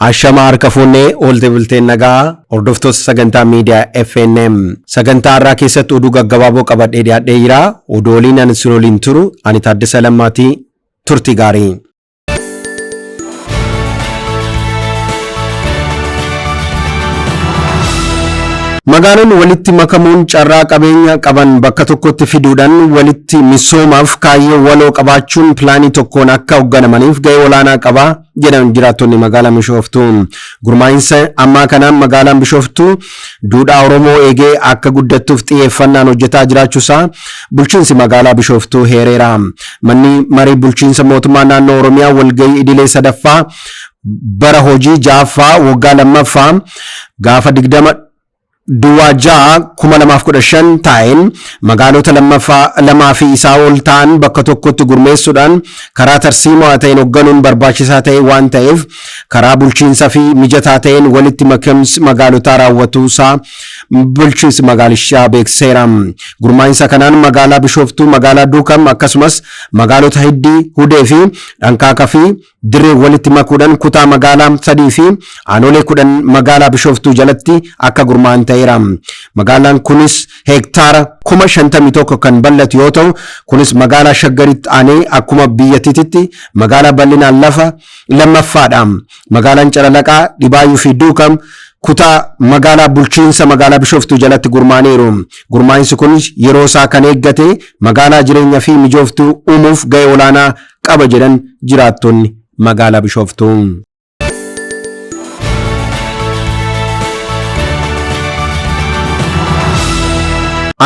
Ashama harka fuunnee oolte bulteen nagaa hordoftoota sagantaa miidiyaa FNM sagantaa har'aa keessatti oduu gaggabaaboo qabadhee dhiyaadhee jira. Oduu waliin ani siroliin turu ani Taaddasa Lammaatii turtii gaarii. Magaalonni walitti makamuun carraa qabeenya qaban bakka tokkotti fiduudhaan walitti misoomaaf kaayyoo waloo qabaachuun pilaanii tokkoon akka hoogganamaniif ga'ee olaanaa qaba jedhan jiraattonni magaalaa Bishooftuu. Gurmaa'insa ammaa kanaan magaalaan Bishooftuu duudhaa Oromoo eegee akka guddattuuf xiyyeeffannaan hojjetaa jiraachuusaa Bulchiinsi Magaalaa Bishooftuu heereera. Manni Marii Bulchiinsa Mootummaa Naannoo Oromiyaa walgahii idilee 3ffaa bara hojii 6ffaa waggaa 2ffaa gaafa 20 Duwwaa 6 2015 taa'een magaalota lammaffaa lamaa fi isaa ol ta'an bakka tokkotti gurmeessuudhaan karaa tarsiimoo ta'een hogganuun barbaachisaa ta'e waan ta'eef karaa bulchiinsa fi mijataa ta'een walitti makims magaalotaa raawwatuu isaa bulchiinsi magaalishaa beekseera. Gurmaa'insa kanaan magaalaa Bishooftuu, magaalaa Duukam akkasumas magaalota Hiddii, Hudee fi Dhankaaka fi Dirree walitti makuudhaan kutaa magaalaa sadii fi aanolee kudhan magaalaa Bishooftuu jalatti akka gurmaa'an ta'eera. Magaalaan kunis heektaara kuma shantamii tokko kan bal'atu yoo ta'u kunis magaalaa Shaggaritti aanee akkuma biyyattiitti magaalaa bal'inaan lafa lammaffaadha. Magaalaan Calalaqaa, Dhibaayu fi Duukam kutaa magaalaa bulchiinsa magaalaa Bishooftuu jalatti gurmaaniiru. Gurmaa'insi kun yeroo isaa kan eeggate magaalaa jireenya fi mijooftuu uumuuf ga'ee olaanaa qaba jedhan jiraattonni magaalaa Bishooftuu.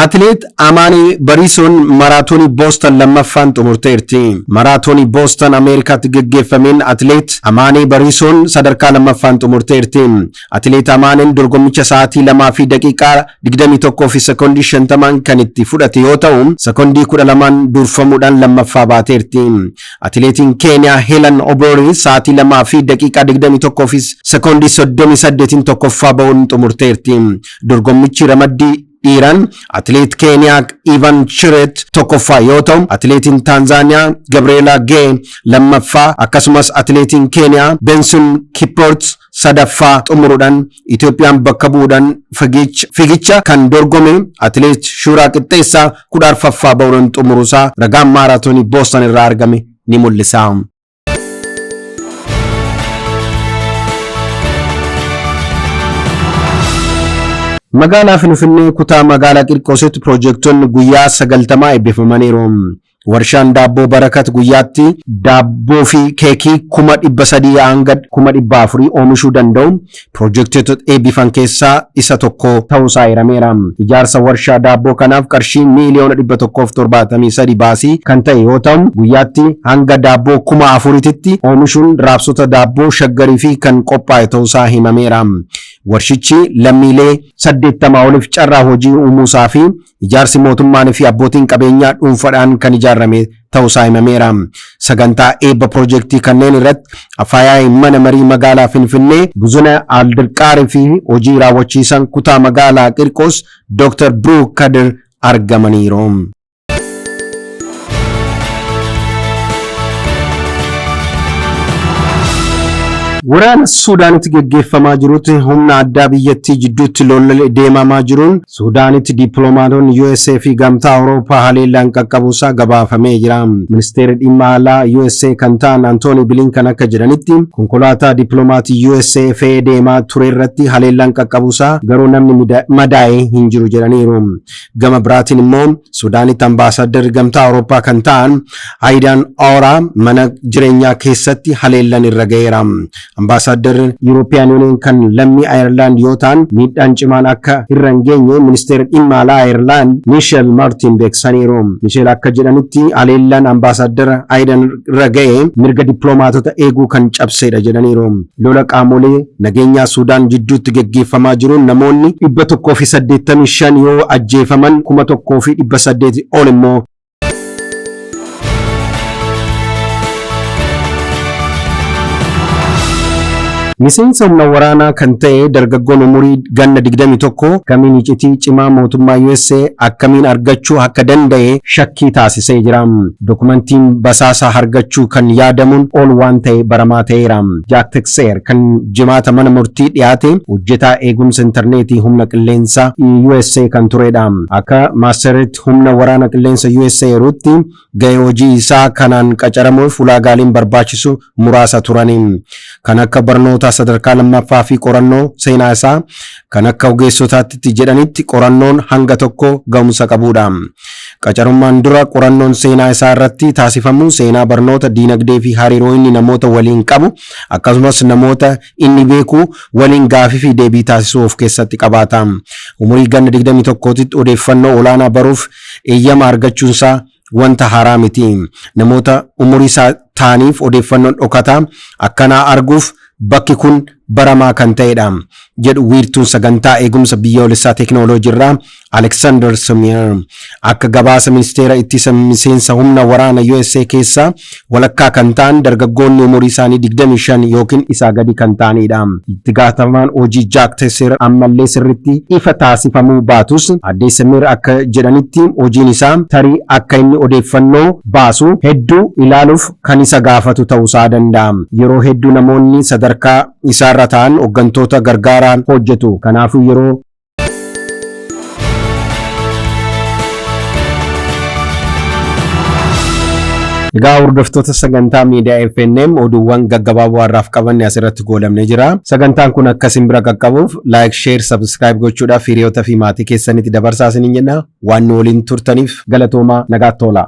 Atileet Amaani Bariisoon Maraatoonii Boostan lammaffaan xumurteerti. Maraatoonii Boostan Ameerikaatti geggeeffameen Atileet Amaanee Bariisoon sadarkaa lammaffaan xumurteerti. Atileet Amaaneen dorgommicha sa'aatii 2 fi daqiiqaa 21 fi sekondii 50n kan itti fudhate yoo ta'u, sekondii 12n durfamuudhaan lammaffaa baateerti. Atileetiin Keeniyaa Heelan Oboori sa'aatii 2 fi daqiiqaa 21 fi sekondii 38n tokkoffaa ba'uun xumurteerti. Dorgommichi ramaddii. Dhiiraan atileet Keeniyaa Ivan Chiret tokkoffaa yoo ta'u, atileetiin Taanzaaniyaa Gabriyeelaa Gee lammaffaa akkasumas atileetiin Keeniyaa Benson Kiprot sadaffaa xumuruudhan Itoophiyaan bakka bu'uudhan figiich fiigicha kan dorgome atileet Shuuraa Qixxeessaa kudha arfaffaa ba'uudhan xumuruusaa ragaan maaraatoonii Booston irraa argame ni mul'isa. Magaalaa Finfinnee kutaa magaalaa Qirqoositti piroojektonni guyyaa 90 eebbifamaniiru. Warshaan daabboo Barakat guyyaatti daabboo fi keekii kuma 300 hanga kuma 400 oomishuu danda'u Piroojektoota eebbifan keessaa isa tokko ta'uusaa eerameera. Ijaarsa warshaa daabboo kanaaf qarshii miiliyoona 173 baasii kan ta'e yoo ta'u, guyyaatti hanga daabboo kuma afurititti oomishuun raabsota daabboo Shaggariifi kan qophaa'e ta'uusaa himameera. Warshichi lammiilee 80 oliif carraa hojii uumuusaafi Ijaarsi mootummaan fi abbootiin qabeenyaa dhuunfadhaan kan ijaarrame ta'usaa himameera. Sagantaa eebba pirojektii kanneen irratti Afaayaa'iin Mana Marii Magaalaa Finfinnee, Buzuneh Aldirqaar fi Hojii Raawwachiisaan Kutaa Magaalaa Qirqoos Dooktar Biruuk Kadir argamaniiru. Waraana Suudaanitti geggeeffamaa jirutti humna addaa biyyattii jidduutti lolli deemamaa jiruun Suudaanitti dippiloomaatonni usa fi Gamtaa Awurooppaa haleellaan qaqqabuusaa gabaafamee jira. Ministeerri Dhimma Alaa usa kan ta'an Antoonii Bilinkan akka jedhanitti, konkolaataa dippiloomaatii usa fe'ee deemaa turerratti haleellaan qaqqabuusaa garuu namni madaa'e hin jiru jedhaniiru. Gama biraatiin immoo Suudaanitti ambaasaaddarri Gamtaa Awurooppaa kan ta'an Ayidaan Ooraa mana jireenyaa keessatti haleellan irra ga'eera. Ambaasaaddarri Yuuroopiyaan Yuuniyeen kan lammii Ayerlaand yoo ta'an miidhaan cimaan akka irra hin geenye ministeerri dhimma alaa Ayerlaand Miisheel Maartiin beeksisaniiru. Miisheel akka jedhanitti haleellaan ambaasaaddara Ayidan irra ga'e mirga dippiloomaatota eeguu kan cabseedha jedhaniiru. Lola qaamolee nageenyaa Suudaan jidduutti geggeeffamaa jiruun namoonni 185 yoo ajjeefaman 1,800 ol immoo Miseensa humna waraanaa kan ta'e dargaggoon umurii ganna 21 kamiin icitii cimaa mootummaa USA akkamiin argachuu akka danda'e shakkii taasisee jira. Dokumentiin basaasaa hargachuu kan yaadamuun ol waan ta'e baramaa ta'eera. Jaak Tekseer kan jimaata mana murtii dhiyaate hojjetaa eegumsa intarneetii humna qilleensaa USA kan turedha. Akka Maasteret Lammiitti Humna Waraana Qilleensa usa eeruutti gahee hojii isaa kanaan qacaramuuf ulaagaaleen barbaachisu muraasa turani. Kan akka barnoota sadarkaa lammaffaa fi qorannoo seenaa isaa kan akka ogeessotaatti jedhanitti qorannoon hanga tokko gahumsa qabuudha. Qacarummaan dura qorannoon seenaa isaa irratti taasifamu seenaa barnoota diinagdee fi hariiroo inni namoota waliin qabu akkasumas namoota Inni beeku waliin gaafii fi deebii taasisuu of keessatti qabaata. Umurii ganna 21titti odeeffannoo olaanaa baruuf eeyyama argachuunsaa wanta haaraa miti. Namoota umuriisaa ta'aniif odeeffannoon dhokataa akkanaa arguuf bakki kun baramaa kan ta'edha, jedhu wiirtuun sagantaa eegumsa biyyoolessaa teeknooloojiirraa Alexander Sumir akka gabaasa ministeera ittisa miseensa humna waraana USA keessaa walakkaa kan ta'an dargaggoonni umurii isaanii 25 yookiin isaa gadi kan ta'anidha. Itti gaafatamaan hojii Jaak Tesser ammallee sirriitti ifa taasifamuu baatus addee Sumir akka jedhanitti hojiin isaa tarii akka inni odeeffannoo baasu hedduu ilaaluuf kan isa gaafatu ta'uusaa danda'a. Yeroo hedduu namoonni sadarkaa isaarra ta'an hoggantoota gargaaraan hojjetu. Kanaafuu yeroo Egaa hordoftoota sagantaa miidiyaa FNM oduuwwan gaggabaaboo har'aaf qabanne asirratti goolabnee jira. Sagantaan kun akka isin bira qaqqabuuf like, share, subscribe gochuudhaaf hiriyoota fi maatii keessanitti dabarsaa isiniin jenna. Waan nu waliin turtaniif galatoomaa nagaatti toolaa.